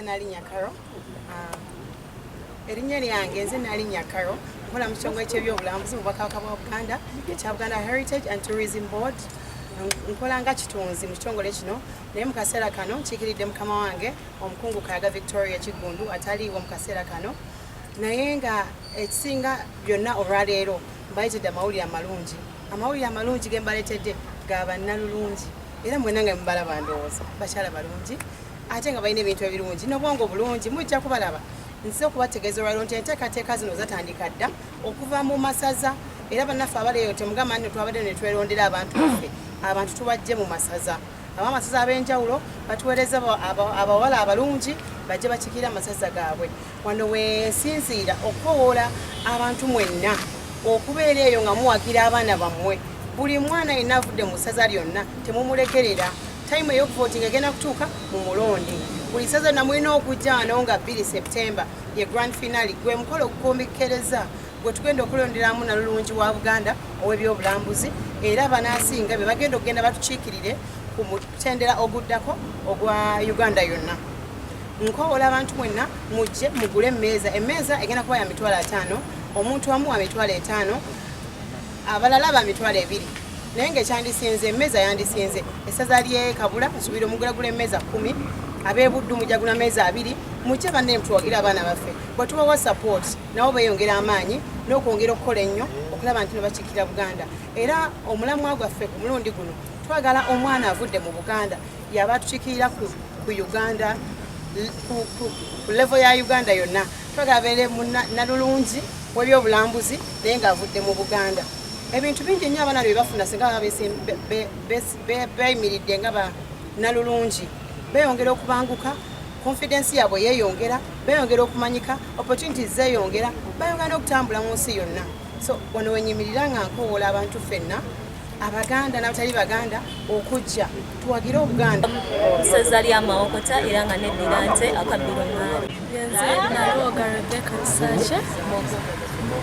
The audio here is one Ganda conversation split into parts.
nalinya karo ah, erinnya lyange nze nalinya karo nkola mu kitongole ky'ebyobulambuzi mu bwakabaka bwa buganda ekya buganda heritage and tourism board nkola nga kitunzi mu kitongole kino naye mu kaseera kano nkiikiridde mukama wange omukungu kayaga victoria kiggundu ataliiwo mu kaseera kano naye nga ekisinga byonna olwaleero mbayitidde amawulire amalungi amawulire amalungi ge mbaletedde ga bannalulungi era mwena nga mubala bandowooza bakyala balungi ate nga balina ebintu ebirungi nobwongo bulungi mujja kubalaba nze okubategeeza olwaliro nti enteekateeka zino zatandika dda okuva mu masaza era bannaffe abaleeyo temugamba nno twabadde netwerondera abantu baffe abantu tubajje mu masaza abamasaza ab'enjawulo batuweereza abawala abalungi bajje bakikiira amasaza gaabwe wano wensinziira okukowoola abantu mwenna okubeera eyo nga muwagira abaana bammwe buli mwana yenna avudde mu ssaza lyonna temumulekerera Time eyokuvotinga egenda kutuuka mu mulonde buli ssaza na mulina okujjaano nga 2 septemba ye grand finale gwe mukolo okukombekkereza gwe tugenda okulonderamu nalulungi wa buganda ow'ebyobulambuzi era banaasinga be bagenda okugenda batukiikirire ku mutendera oguddako ogwa uganda yonna nkowola abantu mwenna mujje mugule emmeeza emmeeza egenda kuba ya mitwalo ataano omuntu amu wa mitwalo etaano abalala ba mitwalo ebiri naye ngaekyandisinze emmeeza yandisinze essaza lye kabula nsubira omugulagula emmeeza kumi abebuddu mujagula meeza abiri mukye banne mutwogere abaana baffe bwetubawa support nabo beyongera amaanyi n'okwongera okukola ennyo okulaba nti nebakikira buganda era omulamwa gwaffe ku mulundi guno twagala omwana avudde mu buganda yaba atukikirira ku uganda ku levo ya uganda yonna twagala beere nalulungi w'ebyobulambuzi naye ng'avudde mu buganda ebintu bingi nnyo abaana bye bafuna singa beeyimiridde nga banalulungi beeyongera okubanguka konfidensi yaabwe yeeyongera beeyongera okumanyika opportunities zeeyongera bayongera n'okutambula mu nsi yonna so wano wenyimirira nga nkowoola abantu ffenna abaganda n'abatali baganda okujja tuwagire obuganda seza lya mawokota era nga neddira nte akabbiro ngaali nze nalwoga rebeka kisakye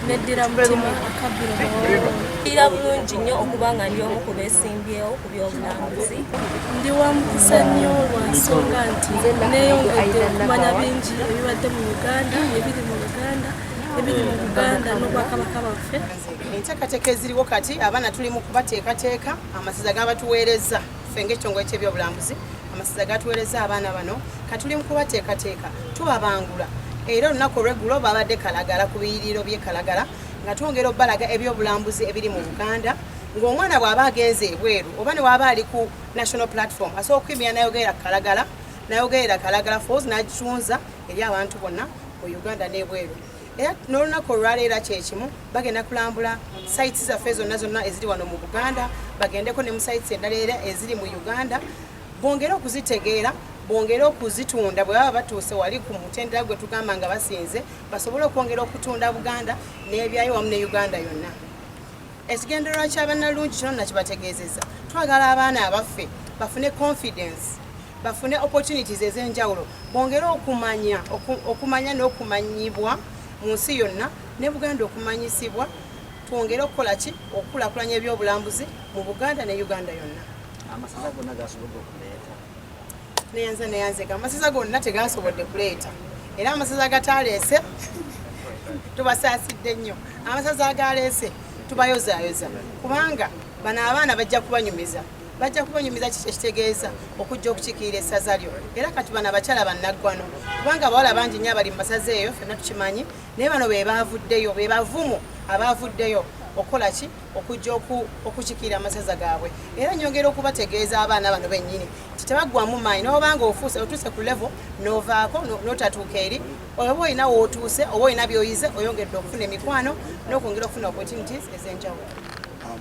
neddira mutima akabbiro ira bulungi nnyo okuba nga ndi omu ku besimbyewo ku byobulambuzi ndi wa mukisa nnyo lwa nsonga nti neyongedde okumanya bingi ebibadde mu uganda ebiri mu uganda ebiri mu uganda n'obwakabaka baffe enteekateeka eziriwo kati abaana tuli mu kubateekateeka amasaza gabatuweereza ffe ngaekitongole kyebyobulambuzi amasaza gatuweereza abaana bano katuli mu kubateekateeka tubabangula era olunaku olweggulo babadde kalagala ku biyiriro byekalagala nga twongera obalaga ebyobulambuzi ebiri mu buganda ng'omwana bw'aba agenze ebweru oba ne waaba ali ku national platform asobola okukwimira nayogerera kalagala nayogerera kalagala fos nagitunza eri abantu bonna mu uganda n'ebweru era n'olunaku olwaleero era kyekimu bagenda kulambula sayiti zaffe zonna zonna eziri wano mu buganda bagendeko ne mu sayiti endala era eziri mu uganda bongere okuzitegeera bongere okuzitunda bwe baba batuuse wali ku mutendera gwe tugamba nga basinze basobole okwongera okutunda buganda n'ebyayo wamu ne uganda yonna Ekigendererwa kya bannalungi kino nakibategeezezza, twagala abaana abaffe bafune confidence bafune opportunities ez'enjawulo bongere okumanya okumanya n'okumanyibwa mu nsi yonna ne Buganda okumanyisibwa twongere okukola ki okukulakulanya ebyobulambuzi mu Buganda ne Uganda yonna. Amasaza gonna gasobola okuleeta neyanze neyanze amasaza gonna tegasobodde kuleeta era amasaza agataleese tubasaasidde nnyo amasaza agaleese tubayozayoza kubanga bano abaana bajja kubanyumiza bajja kubanyumiza ekitegeeza okujja okukikiira essaza lyo era kati bano abakyala bannaggwano kubanga abawala bangi nnyo abali mu masaza eyo fenna tukimanyi naye bano be baavuddeyo be bavumu abaavuddeyo okukola ki okujja okukikiira amasaza gaabwe era nyongera okubategeeza abaana bano bennyini nti tebaggwamu maanyi noba nga ofuuse otuuse ku levo novaako notatuuka eri oba olina wootuuse oba olina byoyize oyongedde okufuna emikwano nokwongera okufuna opportunities ezenjawulo um,